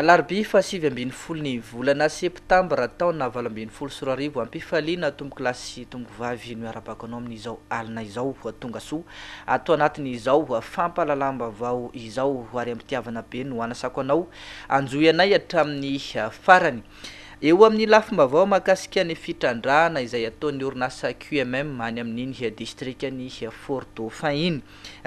Alarobia fahasivy ambin'ny folo ny volana septambra taona valo ambin'ny folo sy roa arivo Ampifaliana tompokolahy sy tompovavy no iarabako anao amin'izao alina izao Tongasoa ato anatin'izao fampahalalam-baovao izao Ary am-pitiavana be no anasako anao Hanjohy anay hatramin'ny farany Eo amin'ny lafim-baovao mahakasika ny fitrandrahana izay ataon'ny orinasa QMM any amin'iny distrikan'i Fort-Dauphin iny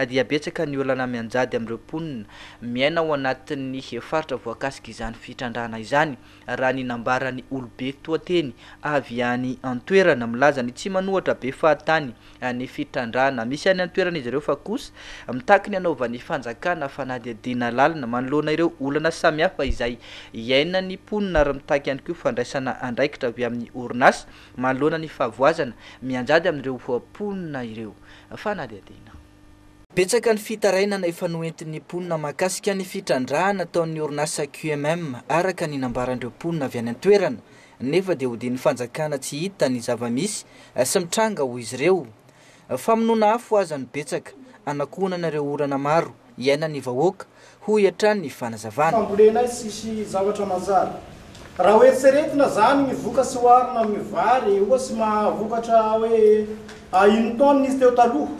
dia betsaka ny olana mianjady amin'ireo mponina miaina ao anatin'ny faritra voakasika izany fitrandrahana izany, raha ny nambaran'ny olobe toa teny avy any an-toerana. Milaza ny tsy manohatra be fahatany ny fitrandrahana misy any an-toerana izy ireo fa kosa mitaky ny hanaovan'ny fanjakana fanadihadiana lalina manoloana ireo olana samihafa izay iainan'ny mponina ary mitaky ihany koa fandraisana andraikitra avy amin'ny orinasa Manoloana ny fahavoazana mianjady amin'ireo mponina ireo fanadihadiana. Betsaka ny fitarainana efa noentin'ny mponina mahakasika ny fitrandrahana ataon'ny orinasa QMM araka ny nambaran'ireo mponina avy any an-toerana nefa dia hodian'ny fanjakana tsy hita ny zava-misy sy mitranga hoy izy ireo. Famonoana afo aza no betsaka hanakohonana ireo orana maro. iainan'ny vahoaka, hoy hatrany ny fanazavana. Fambolena izy tsisy zavatra manjary. Raha hoeritreretina zany ny voka sy oharina amin'ny vary oa sy mahavokatra hoe a une tonne izy teo taloha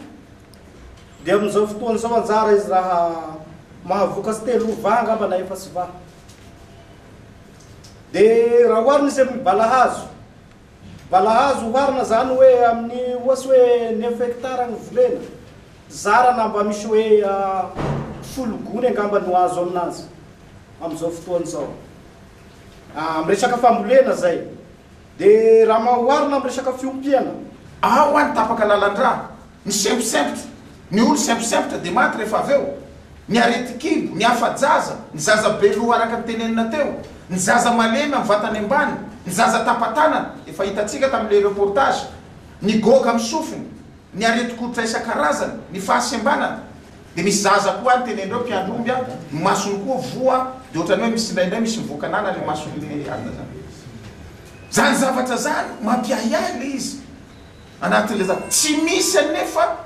dia amin'izao fotoana izao anjara izy raha mahavokatsy telo va angamba na efatsy va dia raha oharina izy amin'ny balahazo Mbola azo oharina zany hoe amin'ny ohatsy hoe neuf hectares ny volena, zara na mba misy hoe folo gony angamba no azo aminazy amin'izao fotoana izao. Amin'ny resaka fambolena zay. Dia raha oharina amin'ny resaka fiompiana. Ao any tapaka lalandrà Ny semposempotra, ny olo semposempotra dia maty rehefa avy eo. Ny aretin-kibo, ny afa-jaza, ny zaza be loha araka ny tenenina teo, ny zaza malemy amin'ny vatany ambany, ny zaza tapa-tanana, efa hitantsika tamin'ilay reportage, ny goga amin'ny sofina, ny aretin-koditra isan-karazany, ny fahasembanana. Dia misy zaza koa any tenen'ireo mpiandry omby an, ny masony koa voa, dia ohatran'ny hoe misy indraindray misy mivoaka anana ilay mason'ilay alina izany. Izany zavatra izany mampiahiahy ilay izy. Anatin'ilay zavatra. Tsy misy anefa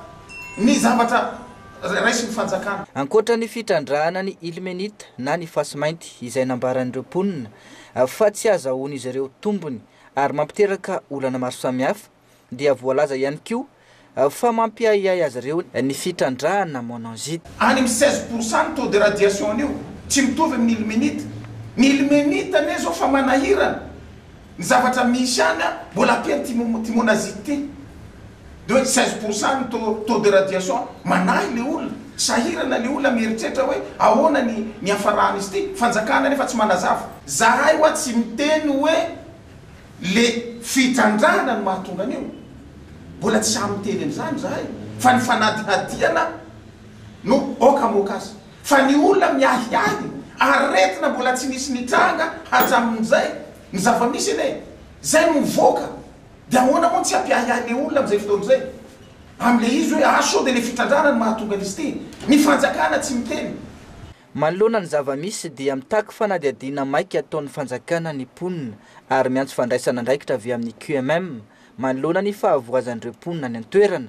ny zavatra raisin'ny fanjakana. Ankoatra ny fitrandrahana ny ilmenite na ny fasimainty izay nambaran'ireo mponina fa tsy azahoan'izy ireo tombony ary mampiteraka olana maro samihafa dia voalaza ihany koa fa mampiahiahy azy ireo ny fitrandrahana monanzite. Any amin'ny seize pour cent ny taux de radiation an'io, tsy mitovy amin'ny ilmenite. Ny ilmenite anie izao fa manahirana Ny zavatra misy ihany an, mbola kely timon timon azy ity. De hoe seize pour cent ny taux taux de radiation. Manahy le olona, sahirana le olona mieritreritra hoe ahoana ny ny hiafarany izy ity. Fanjakana nefa tsy manazava. Zahay hoa tsy miteny hoe le fitrandrahana no mahatonga an'io, mbola tsy sahy miteny an'izany zahay fa ny fanadihadiana no aoka amoaka azy. Fa ny olona miahiahy aretina mbola tsy nisy nitranga hatramin'izay, ny zava-misy anie izay no mivoaka, dia ahoana moa ny tsy hampiahiahy ilay olona amin'izay fotoana izay amin'ilay izy hoe ah sao dia ilay fitrandrahana no mahatonga an'izy ity, ny fanjakana tsy miteny. Manoloana ny zava-misy dia mitaky fanadihadiana maika ataon'ny fanjakana ny mponina ary miantso fandraisana andraikitra avy amin'ny QMM manoloana ny fahavoazan'ireo mponina any an-toerana,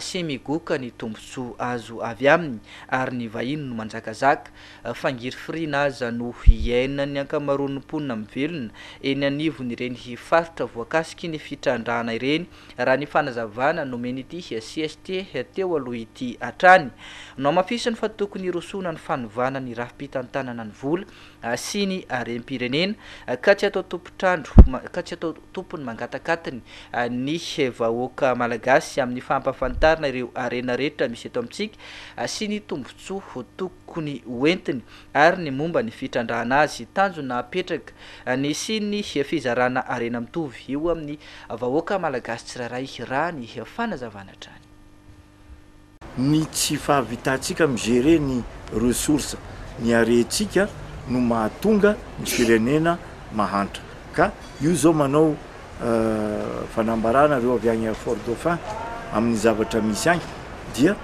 sy migoka ny tombontsoa azo avy aminy ary ny vahiny no manjakazaka, fa ngirifirina aza no iainan'ny ankamaroan'ny mponina mivelona eny anivon'ireny faritra voakasiky ny fitrandrahana ireny, raha ny fanazavana nomen'ity CST teo aloha ity hatrany. Nohamafisiny fa tokony hirosoana ny fanovana ny rafi-pitantanana ny vola sy ny harem-pirenena ka tsy atao tompon-trandro ka tsy atao tompony mangatakatiny ny vahoaka malagasy amin'ny fampahafantarana ireo harena rehetra misy eto amintsika sy ny tombontsoa tokony hoentiny ary ny momba ny fitrandrahana azy. Tanjona hapetraka ny hisian'ny fizarana harena mitovy eo amin'ny vahoaka malagasy tsirairay, raha ny fanazavana hatrany. Ny tsy fahavitantsika mi-gérer ny ressources niarentsika no mahatonga ny firenena mahantra. Ka io zao manao fanambarana reo avy agny Fort Dauphin amin'ny zavatra misy agny dia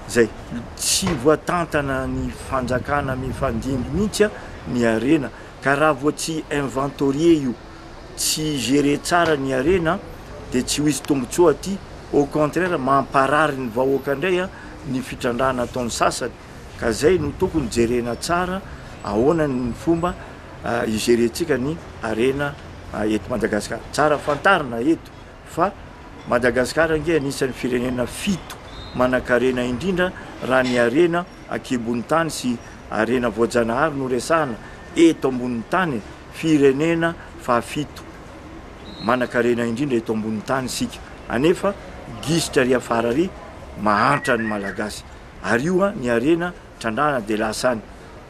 zay. Tsy voatantana ny fanjakana mifandimby mintsy ny harena ka raha vao tsy inventorier io tsy gérer tsara ny harena dia tsy ho hisy tombotsoa aty, au contraire mamparary ny vahoaka indray ny fitrandrahana ataon'ny sasany, ka zay no tokony jerena tsara ahoana ny fomba hi gérer ntsika ny harena eto Madagascar, tsara fantarina eto fa Madagascar ange anisan'ny firenena fito manan-karena indrindra raha ny harena. Ankibon-tany sy harena voajanahary no resahana eto ambonin'ny tany e! Firenena fahafito manankarena indrindra eto ambonin'ny tany isika anefa gisitra ary afara ary mahantra ny Malagasy ary io ny harena trandrahana dia lasa any!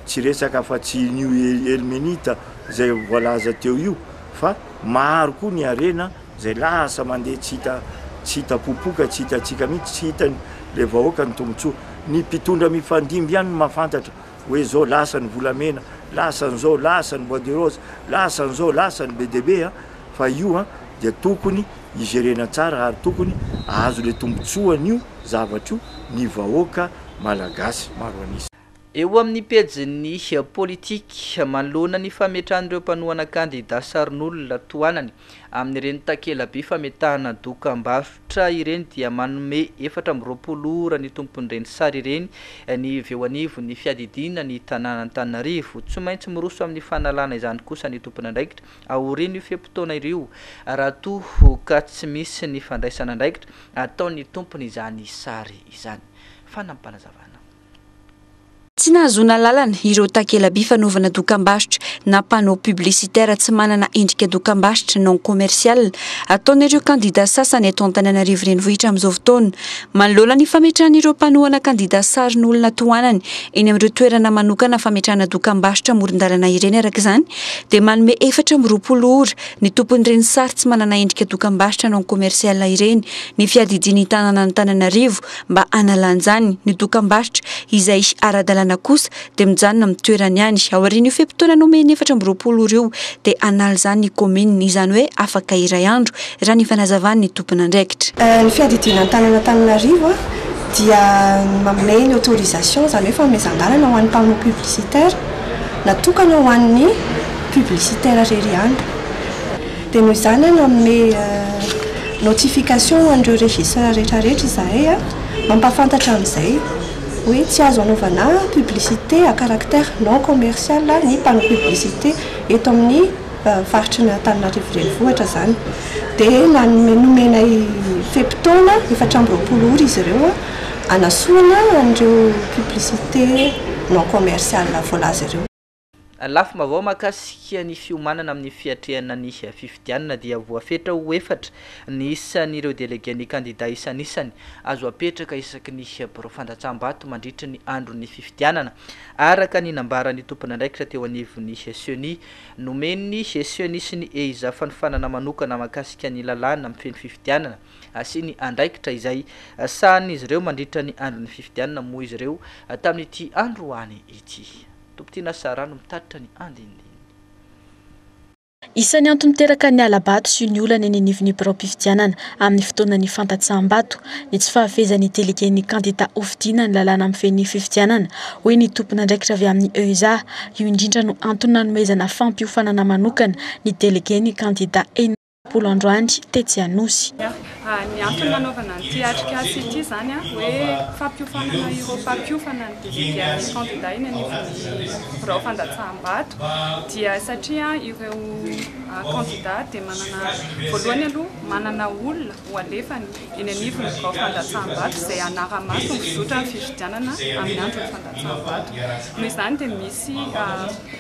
Tsy resaka afa tsy New Elmenita izay voalaza teo io fa maro koa ny harena Zay lasa mandeha tsy hita tsy hita popoka tsy hitantsika mihitsy tsy hitany le vahoaka ny tombotsoa ny mpitondra mifandimby ihany no mahafantatra oe zao lasa ny volamena lasa ny zao lasa ny bois de rose lasa ny zao lasa ny be dia be a fa io a dia tokony hijerena tsara ary tokony ahazo le tombotsoan'io zavatra io ny vahoaka malagasy maro an'isa. Eo amin'ny pejin'ny Politique, manoloana ny fametrahan'ireo mpanohana kandida sarin'olona tohanany amin'ireny takelaby fametahana dokam-barotra ireny dia manome efatra amby roapolo ora ny tompon'ireny sary ireny ny avy eo anivon'ny fiadidiana ny tanàn'Antananarivo. Tsy maintsy miroso amin'ny fanalana izany kosa ny tompon'andraikitra aorian'io fe-potoana io raha toa ka tsy misy ny fandraisan'andraikitra ataon'ny tompony izany sary izany. Fanampin'Panazavana. Tsy nahazoana alalana ireo takela-by fanaovana dokambarotra na panneaux publicitaires tsy manana endrika dokambarotra, non commercial, ataon'ireo kandidà sasany eto Antananarivo Renivohitra amin'izao fotoana. Manoloana ny fametrahana ireo mpanohana kandidà sarin'olona tohanany eny amin'ireo toerana manokana fametrahana dokambarotra amoron-dalana ireny araka izany dia manome efatra amby roapolo ora ny tompon'ireny sary tsy manana endrika dokambarotra non commercial ireny ny Fiadidian'ny Tanànan'Antananarivo mba hanalanjany ny dokambarotra izay ara-dalàna kosa dia mijanona amin'ny toerany ihany. Aorian'io fe-potoana nomeny efatra amby roapolo ora io dia hanala izany ny kaominina, izany hoe afaka iray andro, raha ny fanazavan'ny tompon'andraikitra. Ny fiadidiana ny tanàn'Antananarivo dia manome ny autorisation, izany hoe fanomezan-dalana ho an'ny panneau publicitaire natokana ho an'ny publicitaire irery ihany. Dia noho izany aho nanome notification ho an'ireo registres rehetrarehetra izahay mampahafantatra amin'izay hoe tsy azo anaovana publicité à caractère non commercial ny panneau publicité eto amin'ny faritry ny Antananarivo Renivohitra izany. Dia nanome nomenay fe-potoana efatra amby roapolo ora izy ireo hanasoana an'ireo publicité non commercial voalaza ireo. Lafim-baovao mahakasika ny fiomanana amin'ny fiatrehana ny fifidianana dia voafetra ho efatra ny isan'ireo delegen'ny kandida isanisany azo apetraka isaky ny birao fandatsaham-bato mandritry ny andron'ny fifidianana, araka ny nambaran'ny tompon'andraikitra teo anivon'ny Ceni nomen'ny Ceni sy ny EIZA fanofanana manokana mahakasika ny lalàna mifehy ny fifidianana sy ny andraikitra izay sahanin'izy ireo mandritra ny andron'ny fifidianana moa izy ireo tamin'ity androany ity. Topitiana sy rano mitatitra ny andinindininy. Isan'ny antony miteraka ny hala-bato sy ny olana eny anivon'ny biraom-pifidianana amin'ny fotoanan'ny fandatsaham-bato ny tsy fahafehezan'ny delegen'ny kandidà hofidiana ny lalàna mifehy ny fifidianana, hoy ny tompon'andraikitra avy amin'ny EUSA. Io indrindra no antony nanomezana fampiofanana manokana ny delegen'ny kandidà eny. Bolo androany tetsy Anosy. Ny antony nanaovana an'ity atrikasa ity izany hoe fampiofanana ireo mpampiofana ny delegen'ny kandida eny anivon'ny birao fandatsaham-bato dia satria ireo kandida dia manana, voalohany aloha, manana olona ho alefany eny anivon'ny birao fandatsaham-bato izay hanara-maso ny zotra ny fifidianana amin'ny andron'ny fandatsaham-bato. Noho izany dia misy.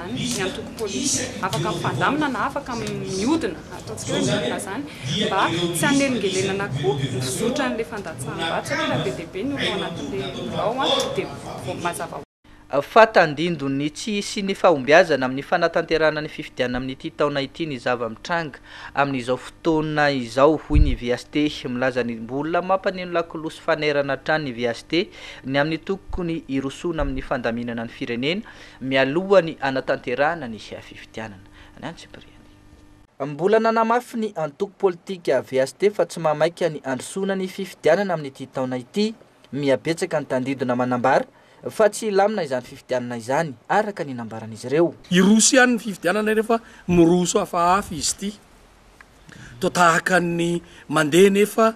izany ny antoko politika afaka mifandamina na afaka miodina, ataontsika hoe miodina izany, mba tsy hanelingelenana koa ny fizotra an'ilay fandatsaham-bato satria be dia be ny olona ao anatin'ilay birao dia vao mazava ho. Fa tandindono ny tsy hisian'ny fahombiazana amin'ny fanatanterahana ny fifidianana amin'ity taona ity ny zava-mitranga amin'izao fotoana izao, hoy ny VHT. Milaza ny mbola mampaneno lakolosy fanerana hatrany ny VHT, ny amin'ny tokony hirosoana amin'ny fandaminana ny firenena, mialoha ny hanatanterahana ny fifidianana, ny antsipiriany. Mbola nanamafy ny antoko politika VSD fa tsy mahamaika ny handrosoana ny fifidianana amin'ity taona ity. Miha betsaka ny tandindona manambara fa tsy hilamina izany fifidianana izany, araka ny nambaran'izy ireo. Hiroso ihany ny fifidianana rehefa miroso hafahafa izy ity. Toa tahaka ny mandeha nefa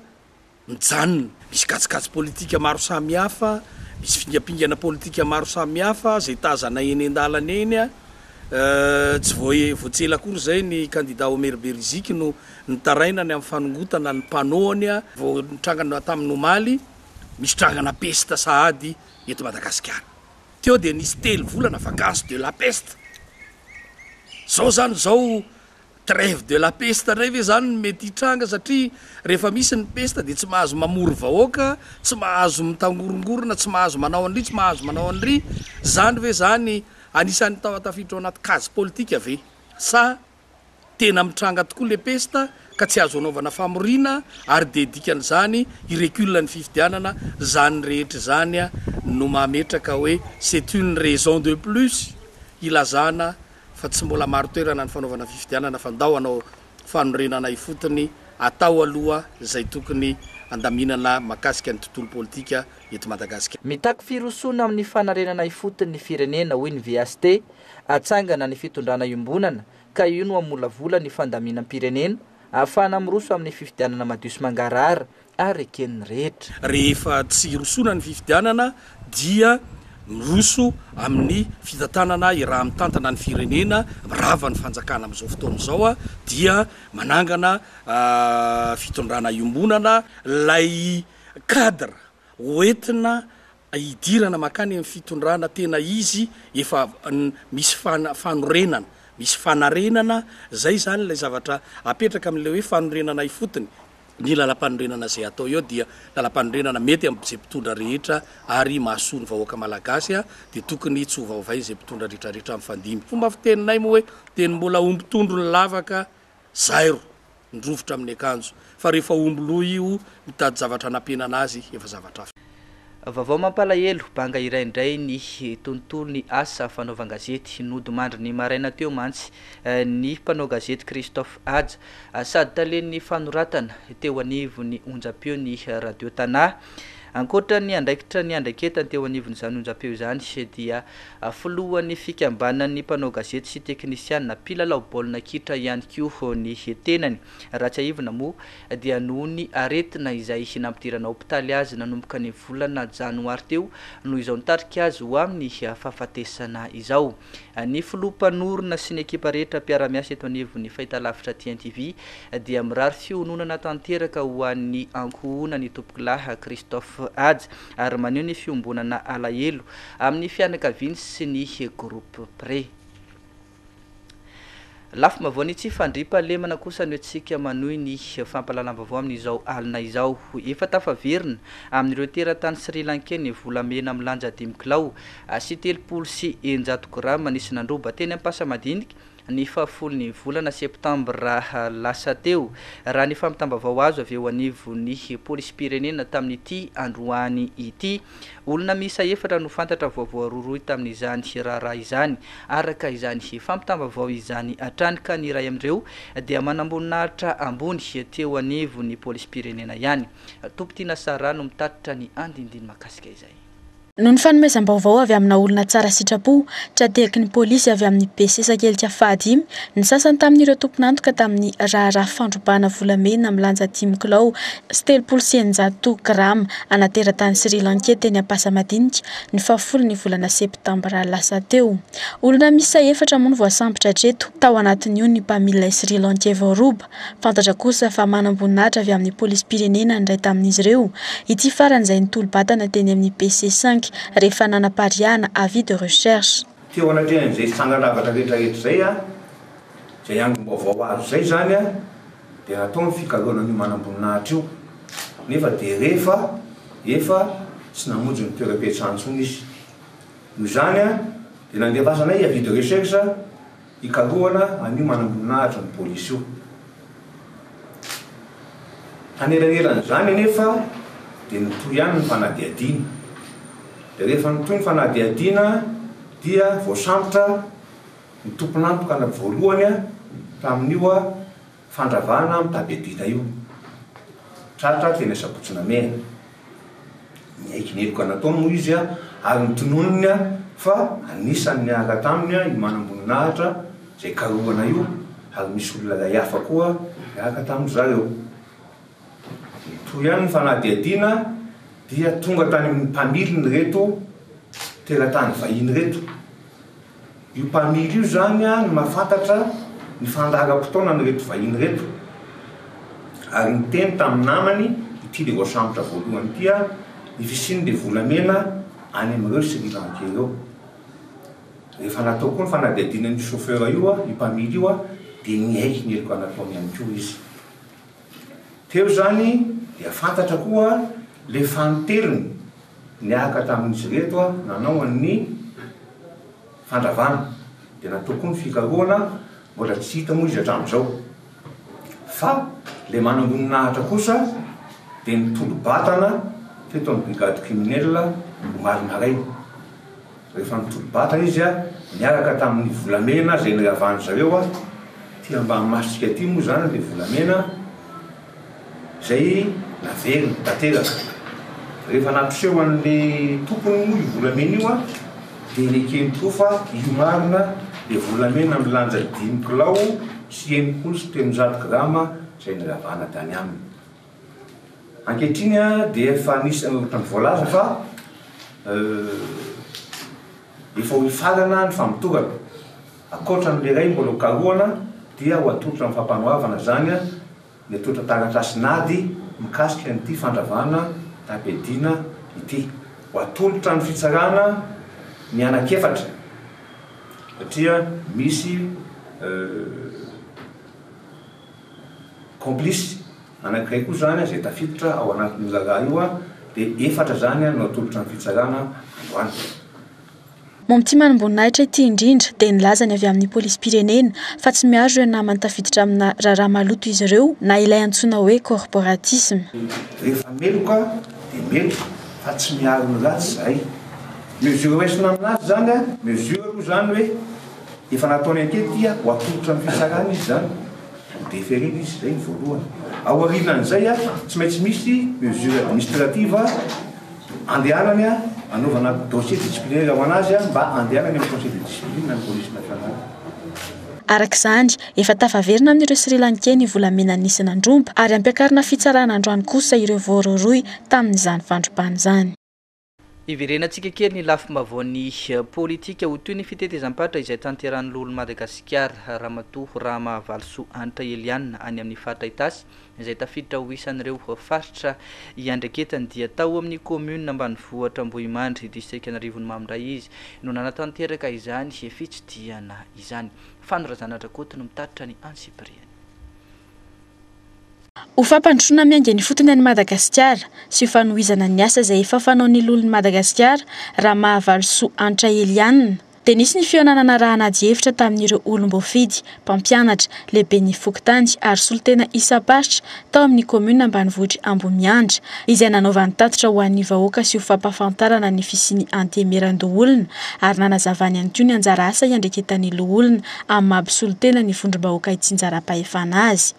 mijanona. Misy kajikajy politika maro samihafa, misy fingampingana politika maro samihafa izay tazana eny an-dalana eny. Tsy vao vao tsy ela akory izay ny kandida Omer Beriziky no nitarainany amin'ny fanongotana ny panneau-ny vao nitranga tamin'ny omaly. Misy trangana pesta sahady eto Madagasikara. Teo dia nisy telo volana vacance de la peste. Izao izany izao Treve de la peste indray ve zany no mety hitranga satria rehefa misy ny pesta dia tsy mahazo mamory vahoaka, tsy mahazo mitangorongorona, tsy mahazo manao an'ry, tsy mahazo manao an'ry, zany ve zany anisan'ny tao tafiditra ao anaty case politika ve? Sa tena mitranga tokoa le pesta ka tsy azo anaovana famoriana ary dia dikan'izany i recul ny fifidianana, zany rehetra izany no mahametraka hoe c'est une raison de plus hilazana fa tsy mbola marin-toerana ny fanaovana fifidianana fa ndao hanao fanorenana ifotony atao aloha izay tokony handaminana makasika ny tontolo politika eto Madagasikara. Mitaky firosoana amin'ny fanarenana ifotony ny firenena hoy ny VST, atsangana ny fitondrana iombonana ka io no hamolavola ny fandaminam-pirenena ahafahana miroso amin'ny fifidianana madio sy mangarahara ary eken'ny rehetra. Rehefa tsy hirosoana ny fifidianana dia miroso amin'ny fitantanana hiraha mitantana ny firenena rava ny fanjakana amin'izao fotoana izao dia manangana fitondrana iombonana ilay cadre hoentina hidirana mankany amin'ny fitondrana tena izy efa misy fanorenana, misy fanarenana, izay izany ilay zavatra apetraka amin'ilay hoe fanorenana ifotony, ny lalam-panorenana izay atao eo dia lalam-panorenana mety amin'izay mpitondra rehetra ary mahasoa ny vahoaka malagasy dia tokony tsy hovaovain'izay mpitondra retraretra mifandimby, fomba fiteninay moa hoe teny mbola ho mpitondro ny lavaka zairo ny rovitra amin'ny akanjo fa rehefa omby loha io mitady zavatra anampenana azy efa zavatra hafa. Vaovao mampalahelo, banga iray indray ny tontolon'ny asa fanaovan-gazety. Nodimandry ny maraina teo mantsy ny mpanao gazety Christophe Haja, sady talen'ny fanoratana, teo anivon'ny onjampeo ny Radio Tana. Ankoatra ny andraikitra niandraiketany teo anivon'izany onjampeo izany dia Filohan'ny fikambanan'ny mpanao gazety sy teknisianina mpilalao baolina kitra ihany koa ny tenany. Raha tsiahivina moa dia noho ny aretina izay nampidirana hopitaly azy nanomboka ny volana janoary teo no izao nitarika azy ho amin'ny fahafatesana izao. Ny filoha mpanorina sy ny ekipa rehetra mpiara-miasa eto anivon'ny fahitalavitra TNTV dia mirary fiononana tanteraka ho an'ny ankohonan'Itompokolahy Christophe Haja ary maneho ny fiombonana alahelo amin'ny fianakaviany sy ny groupe près. Lafim-baovao ny tsy fandriam-pahalemana kosa no entintsika manohy ny fampahalalam-baovao amin'izao alina izao. Efa tafaverina amin'ireo teratany Sri Lankey ny volamena milanja dimy kilao sy telopolo sy eninjato grama nisy nandroba teny Ampasamadinika, ny fahafolon'ny volana septambra lasa teo, raha ny fampitam-baovao azo avy eo anivon'ny polisim-pirenena tamin'ity androany ity. Olona miisa efatra no fantatra vao voarohirohy tamin'izany raharaha izany, araka izany fampitam-baovao izany hatrany, ka ny iray amin'ireo dia manamboninahitra ambony teo anivon'ny polisim-pirenena ihany. Tompon-tiana Sarah no mitatitra ny andinindiny mahakasika izay. Noho ny fanomezam-baovao avy amina olona tsara sitrapo, tra-tehaky ny polisy avy amin'ny be sesakelika fahadimy ny sasany tamin'ireo tompon'antoka tamin'ny raharaha fandrobana volamena milanja dimy kilao sy telopolo sy eninjato grama ana teratany Sri Lankey teny Ampasamadinika ny fahafolo ny volana septambra lasa teo. Olona miisa efatra moa no voasambotra hatreto, tao anatin'io ny mpamily lay Sri Lankey voaroba. Fantatra kosa fa manam-boninahitra avy amin'ny polisim-pirenena ny iray tamin'izy ireo, ity farany izay nitolo-batana teny amin'ny PC cinq rehefa nanapariahana avis de recherche. Teo anatrehan'izay fitsangan-javatra rehetrarehetra izay, izay angom-baovao azo izay izany dia natao ny fikaloana an'io manam-boninahitra io, nefa dia rehefa efa tsy namonjy ny toeram-piasany intsony izy. Noho izany dia nandefasanay avis de recherche. Hikarohana an'io manamboninahitra ny polisy io. Hanelanelan'izany anefa dia nitohy ihany ny fanadihadiana. Dia rehefa nitohy ny fanadihadiana dia voasambotra ny tompon'antoka voalohany tamin'io. Fandravana am tabe bita io tratra teny Asabotsonamena. Niaiky ny heloka nataony moa izy ary notononiny fa anisan'ny niaraka taminy io manamboninahitra izay karohana io ary misy olona lay hafa koa niaraka tamin-dry zareo. Nitohy ihany ny fanadihadiana dia tonga tany amin'ny mpamiliny ireto teratany vahiny ireto. Io mpamily io izany no nahafantatra ny fandaharam-potoanan'ireto vahiny ireto ary niteny tamin'ny namany ity dia voasambotra voalohany ity aho, ny fisian'ilay volamena any amin'ireo Sri Lankey ireo. Rehefa natao koa ny fanadihadiana an'io chauffeur io, io mpamily io, dia niaiky ny heloka nataony ihany koa izy. Teo izany dia fantatra koa ilay fanintelony. Niaraka tamin'izy ireto aho nanao ny fandravana, dia natao koa ny fikarohana, mbola tsy hita moa izy hatramin'izao. Fa ilay manamboninahitra kosa dia nitolo-batana teto amin'ny brigade criminelle omaly maraina. Rehefa nitolo-batana izy niaraka tamin'ny volamena izay niravan'izy ireo aty Ambanimasika aty moa izany ilay volamena, Izay naveriny tanteraka. Rehefa nampiseho an'le tompony moa io volamena io an, dia nekeny koa fa io marina dia volamena milanja dimy kilao sy enimpolo sy telonjato grama izay niravana tany aminy. Ankehitriny an dia efa anisan'ny ohatran'ny voalaza fa efa ho hifarana ny famotorana. Ankoatra ny iray mbola ho karohana dia ho atolotra amin'ny Fampanoavana izany ny atolotra taratasin'ady mikasika an'ity fandravana taim-piadiana ity. Ho atolotra ny fitsarana ny anankiefatra satria misy complice anankiray koa izany izay tafiditra ao anatin'io raharaha io dia efatra izany no atolotra ny fitsarana androany. Momba ity manimboninahitra ity indrindra dia nilaza ny avy amin'ny polisim-pirenena fa tsy miaro ireo namany tafiditra amina raharaha maloto izy ireo na ilay antsoina hoe corporatisme. Rehefa meloka dia meloka fa tsy miaro ny ratsy izahay. Mesure hoeisina amin'azy izany an! Mesure moa izany hoe efa nataony hatety ho atolotra amin'ny fitsarana izy izany. Nodeferena izy izay ny voalohany. Aorianan'izay an, tsy maintsy misy mesure administrative. Andehanany anaovana dossier disciplinaire ho an'azy mba andehanany amin'ny conseil de discipline an'ny police nationale. Araka izany, efa tafaverina amin'ireo Sri Lankey ny volamena nisy nandroba ary hampiakarina fitsarana androany kosa ireo voarohirohy tamin'izany fandrobana izany. Iverenantsika kely ny lafim-baovaon'ny politika ho toy ny fitetezam-paritra izay tanterahin'ny Loholon'i Madagasikara, Ramatoa Rahamahvalisoa Hanitra Eliane any amin'ny faritra Itasy izay tafiditra ho isan'ireo faritra iandreketany dia tao amin'ny kaominina ambanivohitra Ambohimandry distrikan'Arivony Mamy indray izy no nanatanteraka izany fitsidihana izany. Fano Razana Rakoto no mitatitra ny antsipiriany. Ho fampandrosoana miainga ifotony an'i Madagasikara sy ho fanohizana ny asa izay efa fanaon'ny Loholon'i Madagasikara, Ramahavalisoa Hanitra Eliana, dia nisy ny fihaonanana raha-anadihevitra hevitra tamin'ireo olom-boafidy, mpampianatra, lehiben'ny fokontany ary solontena isam-paritra tao amin'ny kaominina ambanivohitr'i Ambohimiandra, izay nanaovany tatitra ho an'ny vahoaka sy ho fampahafantarana ny fisian'ny antemeran-doholona ary nanazavany ihany koa ny anjara asa iandraiketan'ny loholona amin'ny maha mpisolontena ny vondrom-bahoaka itsinjaram-pahefana azy.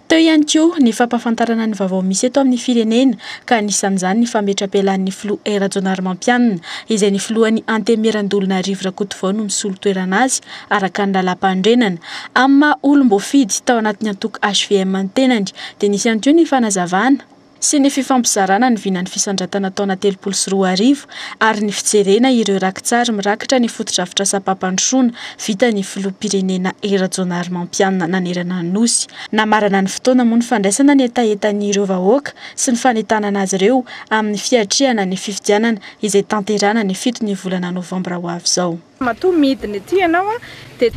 Teo ihany koa ny fampahafantarana ny vaovao misy eto amin'ny firenena ka anisan'izany ny fametra-pialan'ny filoha E Rajaonarimampianina izay ny filohan'ny Antemieran-doholona Rivo Rakotovao no misolo toerana azy araka ny lalàmpanorenana. Amin'ny maha olom-boafidy tao anatin'ny antoko hvm ny tenany dia nisy ihany koa ny fanazavana sy ny fifampizarana ny vinan'ny fisandratana taona telopolo sy roa arivo ary ny fijerena ireo raki-tsary mirakitra ny fotodrafitrasam-pampandrosoana vitan'ny Filoham-pirenena Rajaonarimampianina nanerana ny Nosy. Namarana ny fotoana moa ny fandraisana ny hetahetan'ireo vahoaka sy ny fanentanana azy ireo amin'ny fiatrehana ny fifidianana izay tanterahana ny fito ny volana novambra ho avy izao. Matoa midina ety ianao dia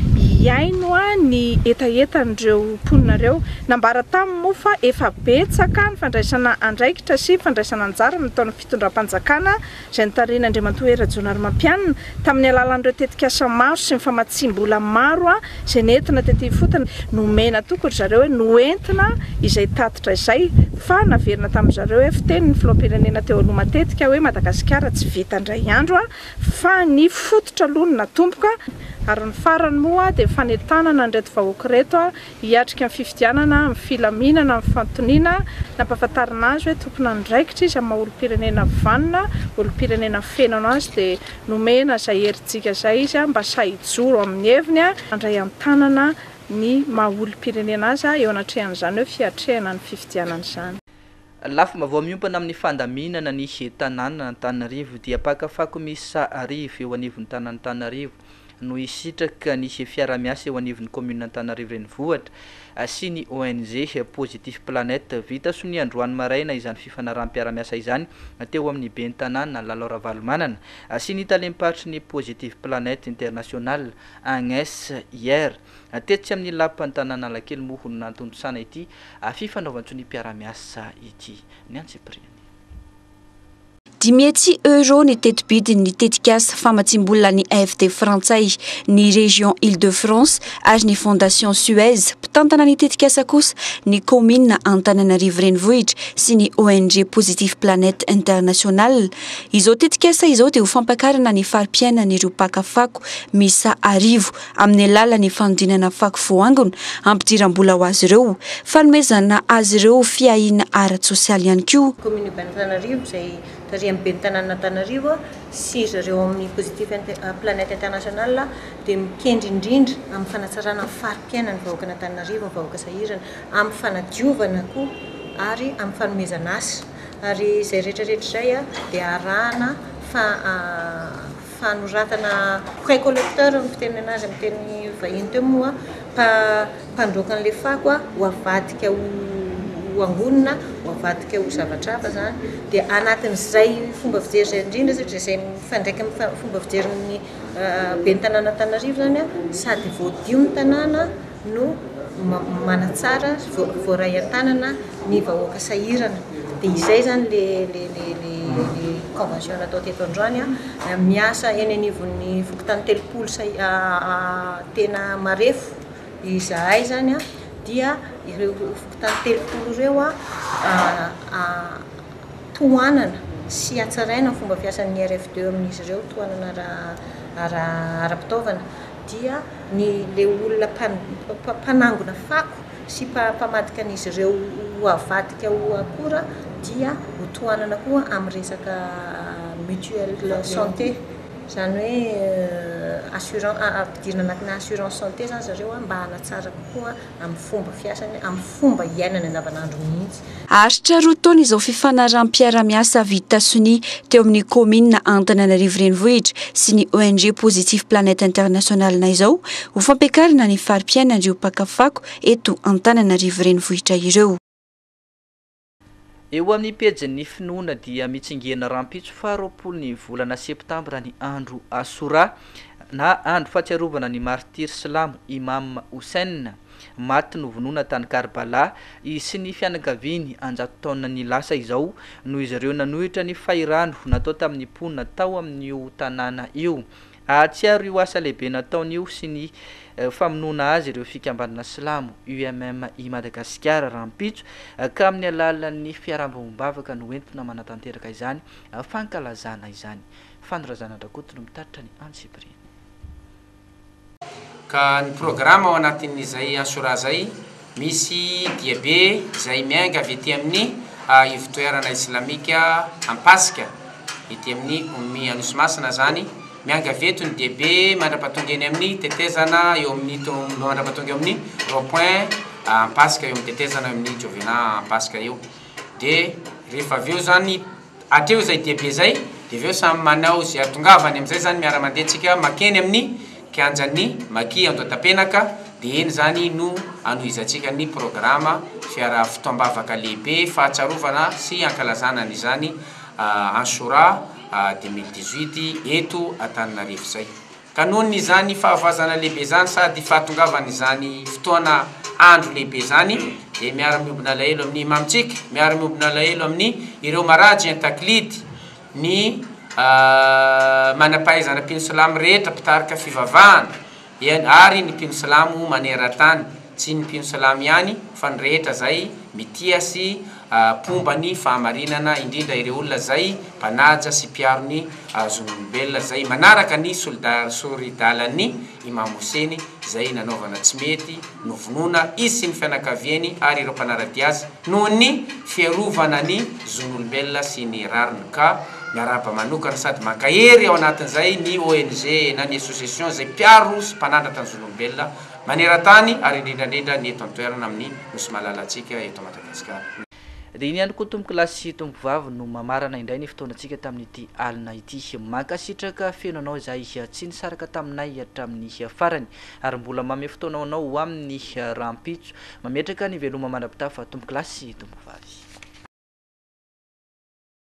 hihaino ny hetahetan'ireo mponinareo. Nambara taminy moa fa efa betsaka ny fandraisana andraikitra sy fandraisana anjara amin'ny taon'ny fitondram-panjakana izay notarihin'Andriamatoa Hery Rajaonarimampianina tamin'ny alalan'ireo tetikasa maro sy ny famatsiam-bola maro izay nentina tety ifotony. Nomena antoko ry zareo hoe noentina izay tatitra izay fa naverina tamin-dry zareo hoe fiteny ny filoham-pirenena teo aloha matetika hoe Madagasikara tsy vita indray andro. fa ny fototra aloha no natomboka ary ny farany moa dia ny fanentanana an'ireto vahoaka ireto hiatrika ny fifidianana amin'ny filaminana amin'ny fanontoniana nampahafantarina azy hoe tomponandraikitra izy amin'ny maha olom-pirenena vanona, olom-pirenena feno azy dia nomena izay herijika izay izy mba sahy hijoro amin'ny heviny handray an-tanana ny maha olom-pirenena azy eo anatrehan'izany hoe fiatrehana ny fifidianana izany. Lafim-baovao miompana amin'ny fandaminana ny tanànan'Antananarivo dia mpaka fako miisa arivo eo anivon'ny tanàn'Antananarivo no hisitraka ny fiara-miasa eo anivon'ny kaominina Antananarivo Renivohitra sy ny ONG Positif Planet. Vita sonia androany maraina izany fifanaraham-piara-miasa izany teo amin'ny ben'ny tanàna Lalo Ravalomanana sy ny talem-paritry ny Positif Planet International, Agnes Hier. Tetsy amin'ny Lapan'ny tanàn'Analakely moa hono nantontosana ity fifanaovan-tsoniam-piarahamiasa ity ny antsipiriany. Dimy hetsy euros ny tetibidin'ny tetikasa famatsiam-bolan'ny AFD frantsay, ny Région Île-de-France ary ny Fondation Suez, mpitantana ny tetikasa kosa ny kaominina Antananarivo Renivohitra sy ny ONG Positive Planet International. Izao tetikasa izao dia ho fampakarana ny fari-piainan'ireo mpaka fako miisa arivo amin'ny alalan'ny fanodinana fako voaangona hampidiram-bola ho azy ireo, fanomezana azy ireo fiahiana ara-tsosialy ihany koa. Kaominina Bentananarivo izay tarihan'ny ben'ny tanànan'Antananarivo sy ry zareo ao amin'ny Positif Planet International dia mikendry indrindra amin'ny fanatsarana ny fari-piainan'ny vahoakan'Antananarivo ny vahoaka sahirana, amin'ny fanadiovana koa ary amin'ny fanomezana asa ary izay rehetra rehetra izay dia arahana fa Fanoratana Prêt collecteur no fitenenana azy amin'ny teny vahiny teo moa fa mpandroaka an'ilay fako ho avadika ho ho ambony na ho avadika ho zavatra hafa izany dia anatin'izay fomba fijery izay indrindra satria izay mifandraika amin'ny fomba fijerin'ny ben'ny tanàn'Antananarivo izany a, sady voadio ny tanàna, no manatsara voaray an-tanana ny vahoaka sahirana dia izay izany le convention natao teto androany an miasa eny anivon'ny fokontany telopolo tena marefo izahay izany an dia ireo fokontany telopolo ireo an tohanana sy hatsaraina ny fomba fiasan'ny RFDE amin'izy ireo tohanana ara-pitaovana dia ny ilay olona mpanangona fako sy mpamadika an'izy ireo ho avadika ho akora dia ho tohanana koa amin'ny resaka mutuelle santé, izany hoe assurance, ampidirina anatina assurance santé izany zareo mba hanatsara kokoa amin'ny fomba fiasany, amin'ny fomba iainany andavanandro mihitsy. Haharitra roa taona izao fifanaraham-piarahamiasa vita sonia teo amin'ny kaominina Antananarivo Renivohitra sy ny ONG Positive Planet International izao ho fampiakarana ny fari-piainan'ireo mpaka fako eto Antananarivo Renivohitra ireo. Eo amin'ny pejin'ny finoana dia mitsingena rahampitso faha roapolo ny volana septambra ny andro Asura na andro fahatsiarovana ny martiry silamo Imam Hussein, maty novonoina tany Karbala, izy sy ny fianakaviany an-jato taona ny lasa izao noho izy ireo nanohitra ny fahirano natao tamin'ny mponina tao amin'io tanàna io. Hahatsiaro io asa lehibe nataony io sy ny famonoana azy ireo fikambanana silamo UMM i Madagasikara rahampitso ka amin'ny alalan'ny fiarahabombavaka no entina manatanteraka izany fankalazana izany. Fano Razanadrakoto no mitatitra ny antsipiriany. Ka ny programa ao anatin'izay Ashura zay. Misy diabe izay miainga avy ety amin'ny ivotoerana islamika Ampasika, ety amin'ny Ummi Anosimasina izany, miainga avy eto ny diabe mandra-pahatonga eny amin'ny tetezana eo amin'ny tong, mandra-pahatonga eo amin'ny rond point Ampasika, eo amin'ny tetezana eo amin'ny Jovena Ampasika eo, dia rehefa avy eo izany, Hatreo izay diabe izay dia avy eo samy manao izay ahatongavany amin'izay izany miara-mandeha tsika makeny amin'ny kianjan'ny Maki Andohatapenaka dia eny izany no anohizantsika ny programa fiaraha fotoam-bavaka lehibe fahatsarovana sy ankalazana an'izany Anshura deux mille dix-huit eto Antananarivo izay. Ka nohon' izany fahavazana lehibe izany sady fahatongavan' izany fotoana andro lehibe izany dia miara miombona alahelo amin' ny Imamintsika, miara miombona alahelo amin' ireo Marajy an-taklidy, ny manam-pahaizana mpino silamo rehetra mpitarika fivavahana, eny ary ny mpino silamo maneran-tany. Tsy ny mpino silamo ihany fa ny rehetra izay mitia sy mpomba ny fahamarinana, indrindra ireo olona izay mpanaja sy mpiaro ny zon'olombelona, izay manaraka ny sori-dalan'ny Imam Hoseny izay nanaovana tsy mety, novonoina izy sy ny fianakaviany ary ireo mpanara-dia azy noho ny fiarovana ny zon'olombelona sy ny rariny ka miarahaba manokana sady mankahery ao anatin'izay ny ONG na ny Association izay mpiaro sy mpanandratra ny zon'olombelona maneran-tany ary indrindrandrindra ny eto an-toerana amin'ny Nosy malalantsika eto Madagasikara. Dia iny ihany koa tompokolahy sy tompovavy no mamarana indray ny fotoanantsika tamin'ity alina ity. Mankasitraka feno anao izahay tsy nisaraka taminay hatramin'ny farany ary mbola manome fotoana ho anao ho amin'ny rahampitso. Mametraka ny veloma mandra-pitafa tompokolahy sy tompovavy.